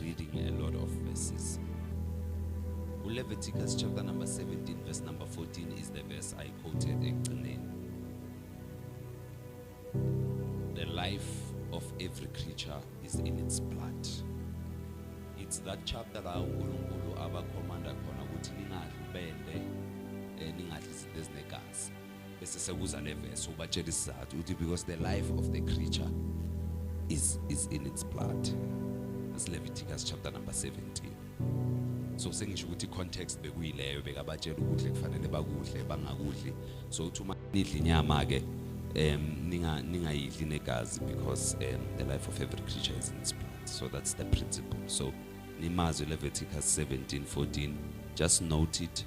reading a lot of verses. Leviticus chapter number 17 verse number 14 is the verse I quoted ekugcineni. The life of every creature is in its blood. It's that chapter la uNkulunkulu abakhomanda khona ukuthi ningadli bende eh, ningadli izinto ezinegazi. bese sekuza le verse ubatshela isizathu uthi because the life of the creature is is in its blood as Leviticus chapter number 17 so sengisho ukuthi context bekuyileyo bekabatshela ukudle kufanele bakudle bangakudli so uthi uma nidla inyama ke um ninga ningayidli negazi because um, the life of every creature is in its blood so that's the principle so nimazwi leviticus 17 14 just note it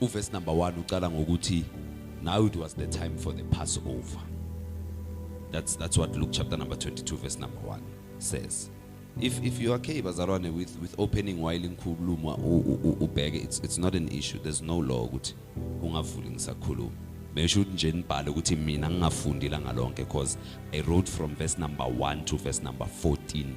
Uverse number 1 uqala ngokuthi now it was the time for the Passover. That's that's what Luke chapter number 22 verse number 1 says. If if you are okay bazalwane with with opening while inkhuluma ubheke it's it's not an issue. There's no law ukuthi ungavuli ngisakhuluma. Besho ukuthi nje nibhale ukuthi mina ngingafundi la ngalonke because I wrote from verse number 1 to verse number 14.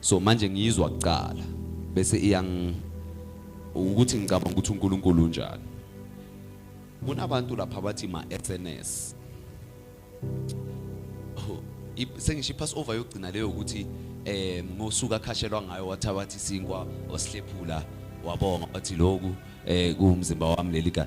so manje ngiyizwa kuqala bese iyang ukuthi ngicabanga ukuthi uNkulunkulu unjani kunabantu lapha bathi ma SNS oh, sengisho ipass over yokugcina leyo ukuthi eh ngosuka khashelwa ngayo wathabathi sinkwa osihlephula wabonga wathi lokhu eh kuwumzimba wami lelika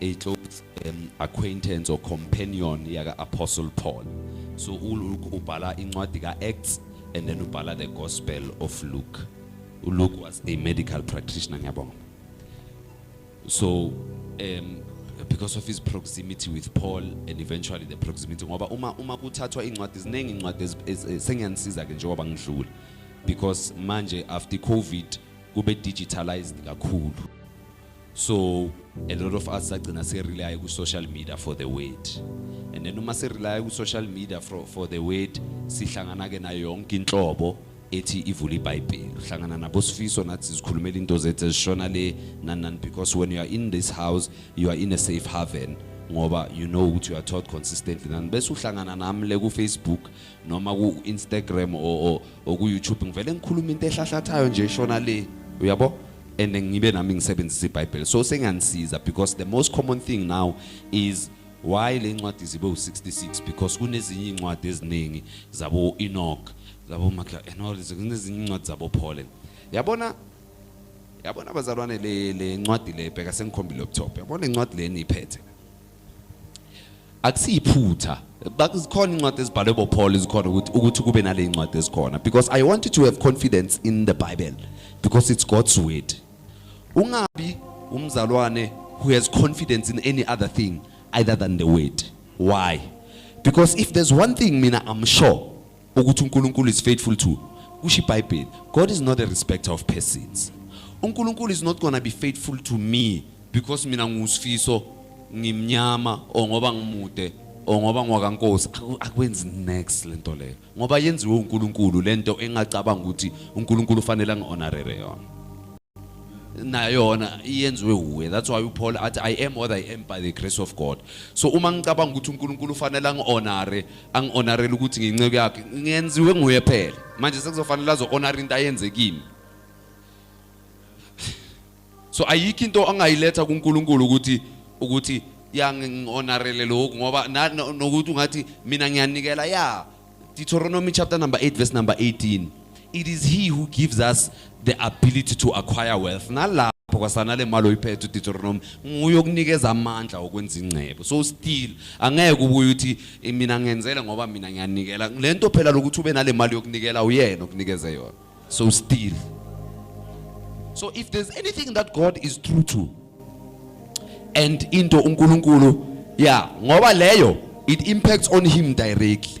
a close um, acquaintance or companion yaka Apostle Paul. So uLuke ubhala incwadi ka Acts and then ubhala the Gospel of Luke. uLuke was a medical practitioner ngiyabonga. So um because of his proximity with Paul and eventually the proximity ngoba uma uma kuthathwa incwadi ziningi incwadi sengiyanisiza ke njengoba ngidlula because manje after covid kube digitalized kakhulu So a lot of us sagcina se rely ku social media for the word. And then uma se rely ku social media for, for the word sihlangana ke na yonke inhlobo ethi ivula iBhayibheli. Uhlangana nabo sifiso nathi sikhulumela into zethu ezishona le nanan because when you are in this house you are in a safe haven ngoba you know ukuthi you are taught consistently nani bese uhlangana nami le ku Facebook noma ku-instagram or ku-youtube ngivele ngikhuluma into ehlahlathayo nje shona le uyabo and ngibe nami ngisebenzisa ibhayibheli so senganisiza because the most common thing now is why le ncwadi zibe u-66 because kunezinye iy'ncwadi eziningi zabo-enoch zabo-macla and all kunezinye iy'ncwadi zabo-polen yabona yabona abazalwane le ncwadi le bheka sengikhombile up top yabona incwadi le niyiphethe akusiyiphutha bakuzikhona incwadi ezibhalwe boPaul izikhona ukuthi ukuthi kube nale incwadi ezikhona because i wanted to have confidence in the bible because it's god's word ungabi umzalwane who has confidence in any other thing either than the word why because if there's one thing mina i'm sure ukuthi uNkulunkulu is faithful to kusho iBhayibheli God is not a respecter of persons uNkulunkulu is not gonna be faithful to me because mina ngusifiso ngimnyama or ngoba ngimude or ngoba ngwakankosi akwenzi next lento leyo ngoba yenziwe uNkulunkulu lento engacabanga ukuthi uNkulunkulu ufanele angihonorere yona nayona iyenziwe uwe that's why uPaul athi i am what i am by the grace of God so uma ngicabanga ukuthi uNkulunkulu ufanele angihonore angi-honarele ukuthi nginceku yakhe ngenziwe nguye phela manje sekuzofanele azo-honara into ayenze kimi so ayikho into angayiletha kuNkulunkulu ukuthi ukuthi yangi-honarele lokhu ngoba nokuthi ungathi mina ngiyanikela ya Deuteronomy chapter number 8 verse number 18 It is he who gives us the ability to acquire wealth. Nalapho kwasana le mali oyiphethe uDeuteronomy nguye okunikeza amandla okwenza ingcebo. So still angeke ubuye uthi "Eh, mina ngenzele ngoba mina ngiyanikela. Lento phela lokuthi ube nale mali yokunikela uyena okunikeze yona. So still. So if there's anything that God is true to and into uNkulunkulu yeah ngoba leyo it impacts on him directly.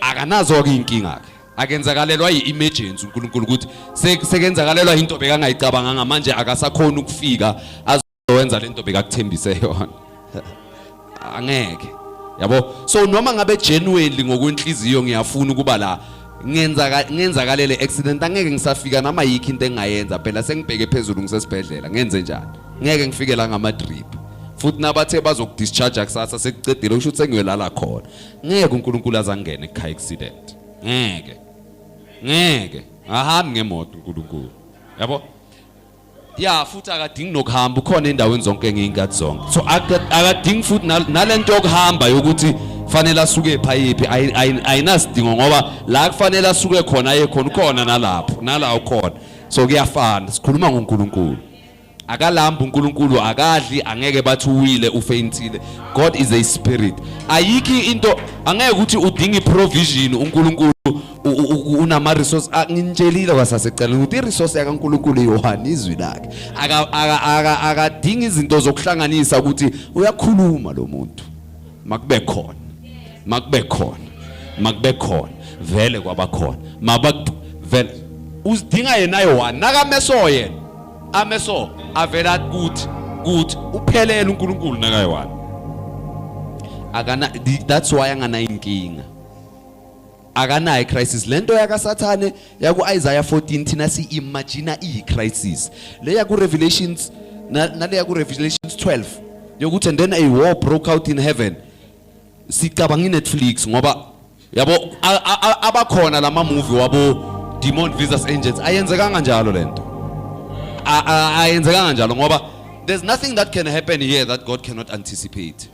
akanazo-ke iy'nkinga-ke akenzakalelwa yi-emergency unkulunkulu ukuthi sekenzakalelwa yinto bekangayicabanganga manje akasakhoni ukufika azowenza le nto bekakuthembise yona angeke yabo so noma ngabe genuinely ngokwenhliziyo ngiyafuna ukuba la ngenza ngenzakalele accident angeke ngisafika noma yikho into engayenza phela sengibheke phezulu ngisesibhedlela ngenze njani ngeke ngifike la ngama drip futhi nabathe bazokudischarge kusasa sekucedile usho ukuthi sengiyolala khona ngeke uNkulunkulu azangene ekhaya accident ngeke ngeke ahambi ngemoto uNkulunkulu yabo ya futhi akadingi nokuhamba ukhona endaweni zonke ngeyinkathi zonke so akadingi futhi nalento yokuhamba yokuthi fanele asuke phayiphi ayinasidingo ngoba la kufanele asuke khona aye khona ukhona nalapho nala ukhona so kuyafana sikhuluma ngoNkulunkulu akalambi uNkulunkulu akadli angeke bathi uwile ufeyintile God is a spirit ayikho into angeke ukuthi udinga iprovision uNkulunkulu unama resource nginitshelile kwasasecela ukuthi iresource yakaNkulunkulu iyohana izwi lakhe akadinga izinto zokuhlanganisa ukuthi uyakhuluma lo muntu makube khona makube khona makube khona vele kwabakhona mabakuvele uzidinga yena yohana nakameso yena ameso avela kuthi kuthi uphelele uNkulunkulu nakayiwani akana that's why angana inkinga akanayo crisis lento yakasathane yaku Isaiah 14 thina si imagine i crisis le yaku revelations nale yaku revelations 12 yokuthi and then a war broke out in heaven sicabanga iNetflix ngoba yabo a- a- a- abakhona lama movie wabo demon visas angels ayenzekanga njalo lento A- a- ayenzekanga njalo ngoba there's nothing that can happen here that god cannot anticipate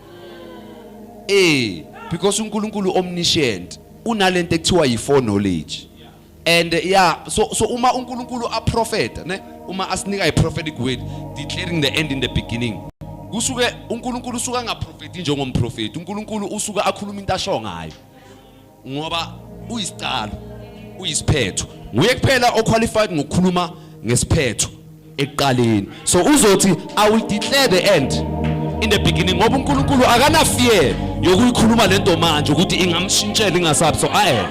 eh because unkulunkulu omniscient unalento ekuthiwa yi-foreknowledge and yeah so so uma uNkulunkulu aprofeta ne uma asinika iprophetic word declaring the end in the beginning kusuke uNkulunkulu usuka ngaprofeti njengomprofeti uNkulunkulu usuka akhuluma into asho ngayo ngoba uyisiqalo uyisiphetho nguye kuphela oqualified ngokukhuluma ngesiphetho ekuqaleni so uzothi i will declare the end in the beginning ngoba uNkulunkulu akana fear yokuyikhuluma lento manje ukuthi ingamshintshela ingasabi so aye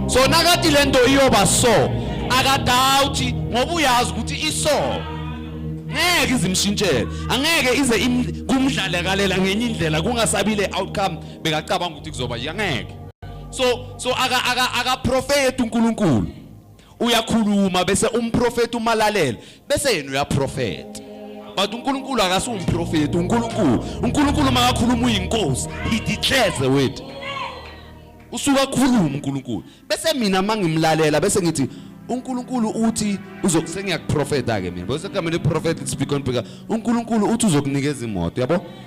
so nakati lento iyoba so akadawuthi ngoba uyazi ukuthi iso ngeke izimshintshele angeke ize kumdlale kalela ngenye indlela kungasabile outcome bekacabanga ukuthi kuzoba yangeke so so aka aka aka prophet uNkulunkulu uyakhuluma bese umprofeti umalalela bese yena uyaprofeta but uNkulunkulu akasiwumprofeti uNkulunkulu uNkulunkulu makakhuluma uyinkosi he declares the word usuka khuluma uNkulunkulu bese mina mangimlalela bese ngithi uNkulunkulu uthi uzokusengiyakuprofeta ke mina bese kamele prophet speak on because uNkulunkulu uthi uzokunikeza imoto yabo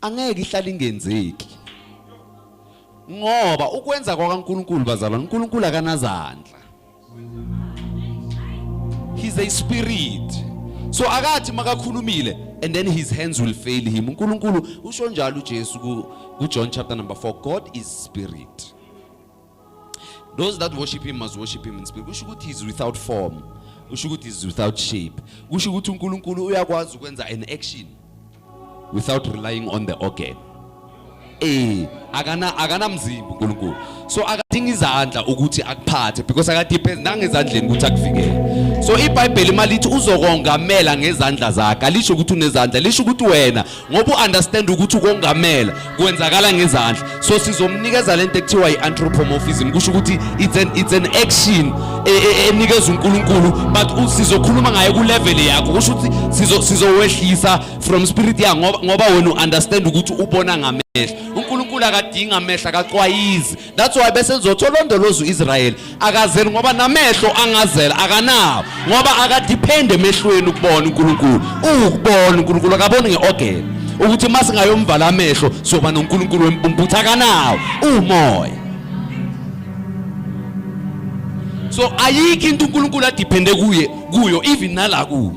angeke ihlale ingenzeki ngoba ukwenza kwakaNkuluNkulu bazalwane uNkuluNkulu akanazandla he's a spirit so akathi makakhulumile and then his hands will fail him uNkuluNkulu usho njalo uJesu ku John chapter number 4 God is spirit those that worship him must worship him in spirit kusho ukuthi he's without form kusho ukuthi he's without shape kusho ukuthi uNkulunkulu uyakwazi ukwenza an action without relying on the organ eh akana akanamzimba uNkulunkulu so akadinga izandla ukuthi akuphathe because akadepend nangezandleni ukuthi akuvikele so ibhayibheli malithi uzokongamela ngezandla zakhe alisho ukuthi unezandla lisho ukuthi wena ngoba u-understand ukuthi ukongamela kwenzakala ngezandla so sizomnikeza lento ekuthiwa i-anthropomorphism kusho ukuthi it's an, it's an action e, e, e, enikeza unkulunkulu but sizokhuluma ngayo kulevel yakho kusho ukuthi sizowehlisa from spirit yakho ngoba wena u-understand ukuthi ubona ngamehlo unkulunkulu akadingi amehlo akacwayizi that's why bese lizothi olondoloza u-israyeli akazeli ngoba namehlo angazela akanawo ngoba akadiphende emehlweni ukubona unkulunkulu uwukubona unkulunkulu akaboni nge-ogeni ukuthi uma singayomvala amehlo siyoba nonkulunkulu wempumputhu akanawo uwumoya so ayikho into unkulunkulu adiphende kuye kuyo even nala kuyo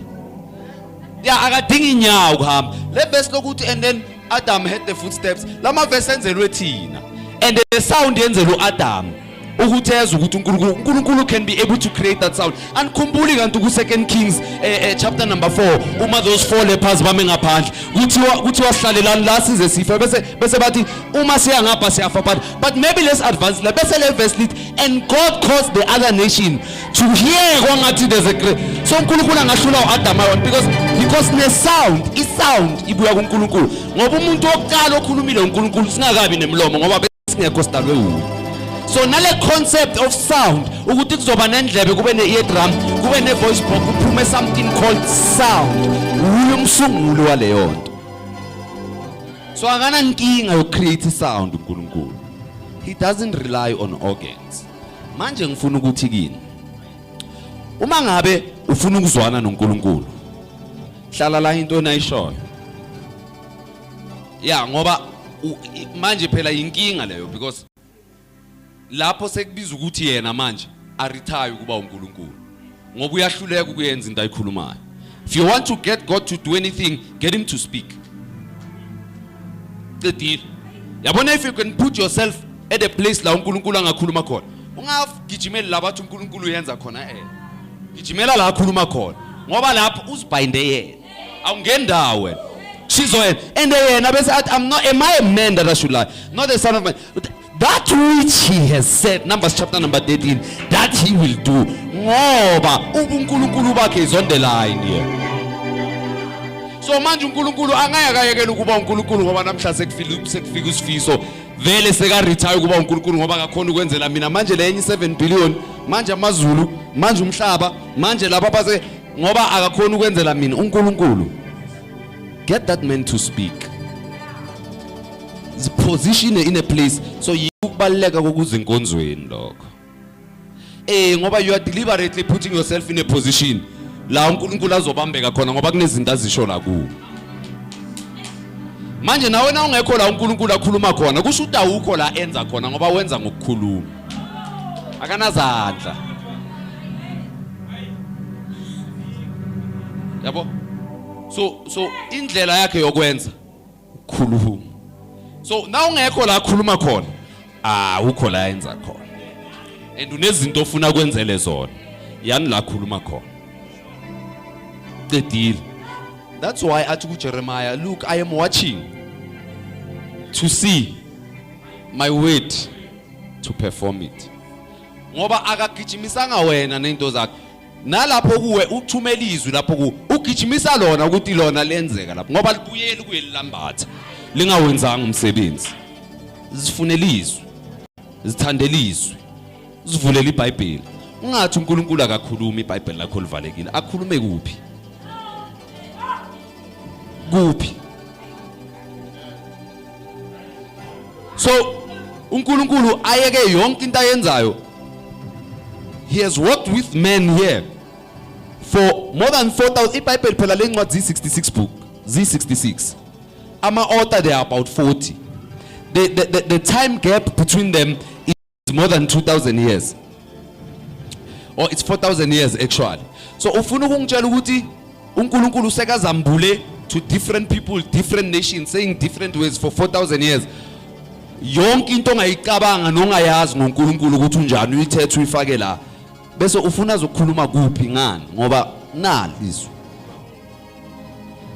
ya akadingi inyawo kuhamba le verse lokuthi and then Adam had the footsteps lama verse enzelwe thina and the sound yenzelwe uAdam ukuthi ezwe ukuthi uNkulunkulu uNkulunkulu can be able to create that sound anikhumbuli kanti ku second kings eh, eh, chapter number 4 uma those four lepers bame ngaphandle kuthiwa kuthiwa sihlalelani la size sifa bese bese bathi uma siya ngapha siyafa but but maybe let's advance la bese le verse lithi and God caused the other nation to hear kwangathi there's a great so uNkulunkulu angahlula uAdam ayon because because ne sound i sound ibuya kuNkulunkulu ngoba umuntu wokuqala okhulumile uNkulunkulu singakabi nemlomo ngoba besingekho sidalwe wuye so nale concept of sound ukuthi kuzoba nendlebe kube ne eardrum kube ne voice box kuphume something called sound wuye umsunguli waleyo nto so akana nkinga yo create sound uNkulunkulu he doesn't rely on organs manje ngifuna ukuthi kini uma ngabe ufuna ukuzwana noNkulunkulu hlala la into enayishoyo ya ngoba manje phela yinkinga leyo because lapho sekubiza ukuthi yena manje arithaye ukuba uNkulunkulu ngoba uyahluleka ukuyenza into ayikhulumayo if you want to get god to do anything get him to speak cedile yabona if you can put yourself at a place la unkulunkulu angakhuluma khona ungagijimeli la bathi unkulunkulu uyenza khona eh gijimela la akhuluma khona ngoba lapho uzibhayinde yena awungendawo wena shizoyena and yena bese athi i'm not am i a man that i should lie not the son of man that which he has said numbers chapter number 13 that he will do ngoba ubunkulunkulu bakhe is on the line here so manje unkulunkulu angeke akayekela ukuba unkulunkulu ngoba namhla sekufika sekufika isifiso vele seka retire ukuba unkulunkulu ngoba akakhona ukwenzela mina manje le enye 7 billion manje amazulu manje umhlaba manje laba base ngoba akakhona ukwenzela mina unkulunkulu get that man to speak ziposition in a place so yikubaleka kokuzinkonzweni lokho eh ngoba you are deliberately putting yourself in a position la uNkulunkulu azobambeka khona ngoba kunezinto azisho la ku manje nawe na ungekho la uNkulunkulu akhuluma khona kusho ukuthi awukho la enza khona ngoba wenza ngokukhuluma akanazandla yabo so so indlela yakhe yokwenza khulumu so na ungekho la khuluma khona ah ukho la yenza khona and unezinto ofuna kwenzele zona yani la khuluma khona qedile that's why athi kuJeremiah look i am watching to see my word to perform it ngoba akagijimisanga wena nento zakhe nalapho kuwe uthumela izwi lapho ku ugijimisa lona ukuthi lona lenzeka lapho ngoba libuyeli kuye lilambatha lingawenzanga umsebenzi zifunela izwi zithandela izwi zivulela iBhayibheli ungathi uNkulunkulu akakhulumi iBhayibheli lakho livalekile akhulume kuphi kuphi so uNkulunkulu ayeke yonke into ayenzayo he has worked with men here for more than 4000 iBhayibheli phela lencwadi zi66 book zi66 ama author there are about 40 the, the, the, the time gap between them it's more than 2000 years or it's 4000 years actually so ufuna ukungitshela ukuthi uNkulunkulu usekazambule to different people different nations saying different ways for 4000 years yonke into ongayicabanga nongayazi ngoNkulunkulu ukuthi unjani uyithethe uyifake la bese ufuna zokukhuluma kuphi ngani ngoba nali izwi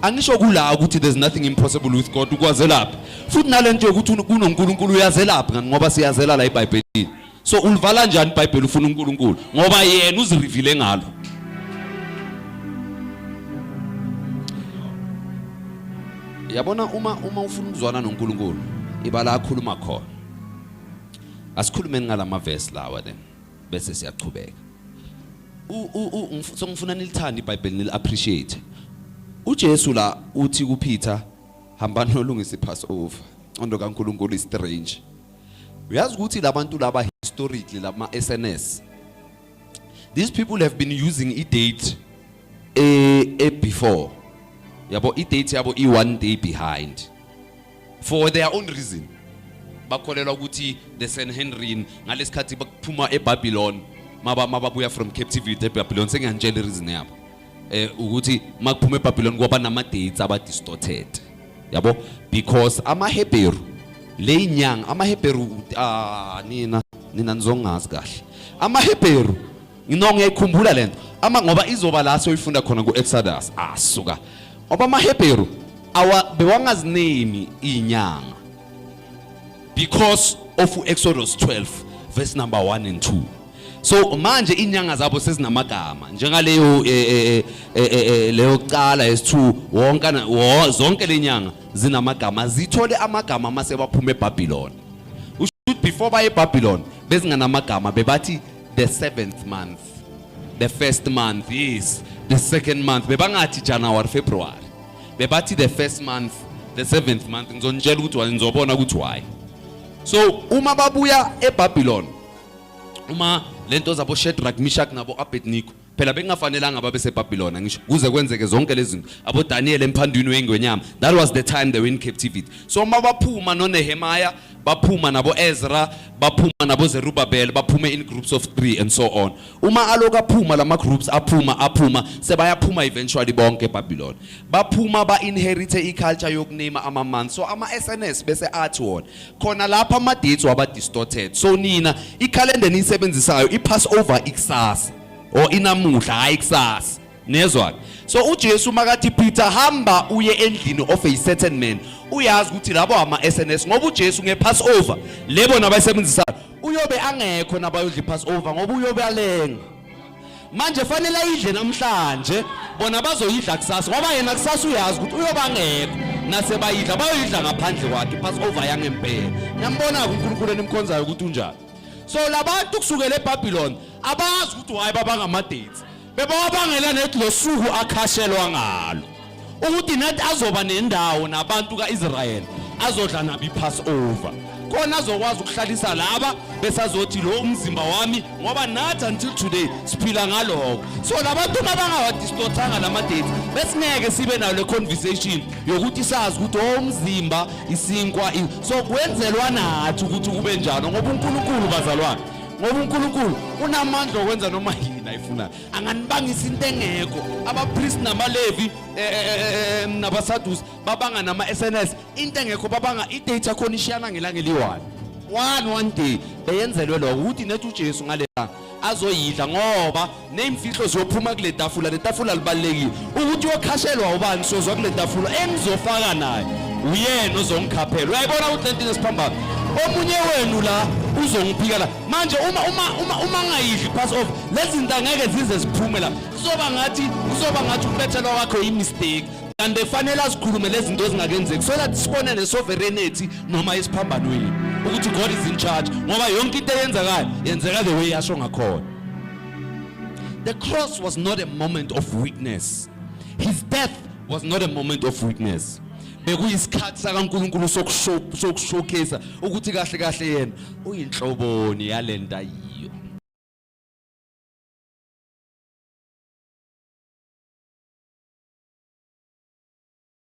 angisho kula ukuthi there's nothing impossible with God ukwazelapha futhi nalento yokuthi kunoNkulunkulu uyazelapha ngani ngoba siyazela la iBhayibhelini so ulivala kanjani iBhayibheli ufuna uNkulunkulu ngoba yena uzirivile ngalo yabona uma uma ufuna ukuzwana noNkulunkulu ibala akhuluma khona asikhulumeni ngalamavesi lawa then bese siyaqhubeka so ngifuna nilithande iBhayibheli nil appreciate uJesu la uthi kuPeter hamba nolungisa iPassover ondo kaNkuluNkulu istrange uyazi ukuthi labantu laba historically lama SNS these people have been using a date a, a before yabo i date yabo i one day behind for their own reason bakholelwa ukuthi the Sanhedrin ngalesikhathi bakuphuma eBabylon maba mababuya from captivity eBabylon sengiyanitshela reason yabo eh ukuthi makuphuma eBabylon kwaba nama dates aba distorted yabo because ama Hebrew leyinyanga ama Hebrew ah nina nina nizongazi kahle ama Hebrew Ngino ngiyayikhumbula lento. Ama ngoba izoba la soyifunda khona kuExodus. Asuka. Ah, ngoba amaHebheru awa bewangazinemi inyanga. Because of Exodus 12 verse number 1 and 2. So manje inyanga zabo sezinamagama njengaleyo eh, eh, eh, leyo kuqala yesithu wonke zonke lenyanga zinamagama zithole amagama mase baphuma eBabylon. Usho ukuthi before baye eBabylon bezinganamagama bebathi the seventh month the first month yes the second month bebangathi January February bebathi the first month the seventh month ngizonitshela ukuthi why ngizobona ukuthi why so uma babuya eBabylon uma lento zabo Shadrach Meshach nabo Abednego phela bekungafanelanga babe seBabilona ngisho kuze kwenzeke zonke lezi zinto aboDaniel emphandwini weingwenyama that was the time they were in captivity so uma baphuma noNehemiah baphuma nabo Ezra baphuma nabo Zerubbabel baphume in groups of 3 and so on uma aloku aphuma lama groups aphuma aphuma sebayaphuma eventually bonke eBabilona baphuma ba inherite iculture yokunima ama months so ama SNS bese athi wona khona lapha ama-dates waba-distorted so nina ikhalenda eniyisebenzisayo i-pass over ikusasa or inamuhla hhayi ikusasa nezwa-ke so ujesu makathi peter hamba uye endlini of a certain man uyazi ukuthi labo ama-s n s ngoba ujesu nge-pass over le bona abayisebenzisayo uyobe angekho nabayodla i-pass over ngoba uyobe alenga manje fanele ayidle namhlanje bona bazoyidla kusasa ngoba yena kusasa uyazi ukuthi uyobangekho nase bayidla bayoyidla ngaphandle kwakhe passover yangempela niyambona-ke unkulunkulu enimkhonzayo ukuthi unjani so labantu kusukela ebhabhiloni abazi ukuthi waye babangamadethi bebawabangela nethi lo suku akhashelwa ngalo ukuthi nathi azoba nendawo nabantu ka-israyeli azodla nabo i-passover khona azokwazi ukuhlalisa laba besazothi lo umzimba wami ngoba nathi until today siphila ngaloko so labantu uma bangawadistorthanga la madate besingeke sibe nayo le conversation yokuthi sazi ukuthi o oh, umzimba isinkwa so kwenzelwa nathi ukuthi kube njalo ngoba unkulunkulu bazalwane ngoba unkulunkulu unamandla okwenza noma yini ayifunayo anganibangisa into engekho abapriest namalevi eh, eh, eh, nabasadusi babanga nama-sns into engekho babanga idate yakhona ishiyana ngelanga eliyi-one one one day beyenzelwe lokho ukuthi nethi ujesu ngale azoyidla ngoba neyimfihlo ziyophuma kule tafula le tafula libalulekile ukuthi uyokhashelwa ubani sozwa kule tafula engizofaka naye uyena ozongikhaphela uyayibona ukuthi le nto inesiphambano omunye wenu la uzongiphika la manje uma uma uma uma ngayidli pass off lezi zinto angeke zize ziphume la kuzoba ngathi kuzoba ngathi ukubethelwa kwakho yimistake kanti efanele azikhulume lezi zinto ezingakenzeki so that sibone nesovereignty noma isiphambanweni ukuthi God is in charge ngoba yonke into eyenzekayo yenzeka the way yasho ngakhona the cross was not a moment of weakness his death was not a moment of weakness bekuyisikhathi sakaNkuluNkulu sokushowcase ukuthi kahle kahle yena uyinhloboni yalenta yiyo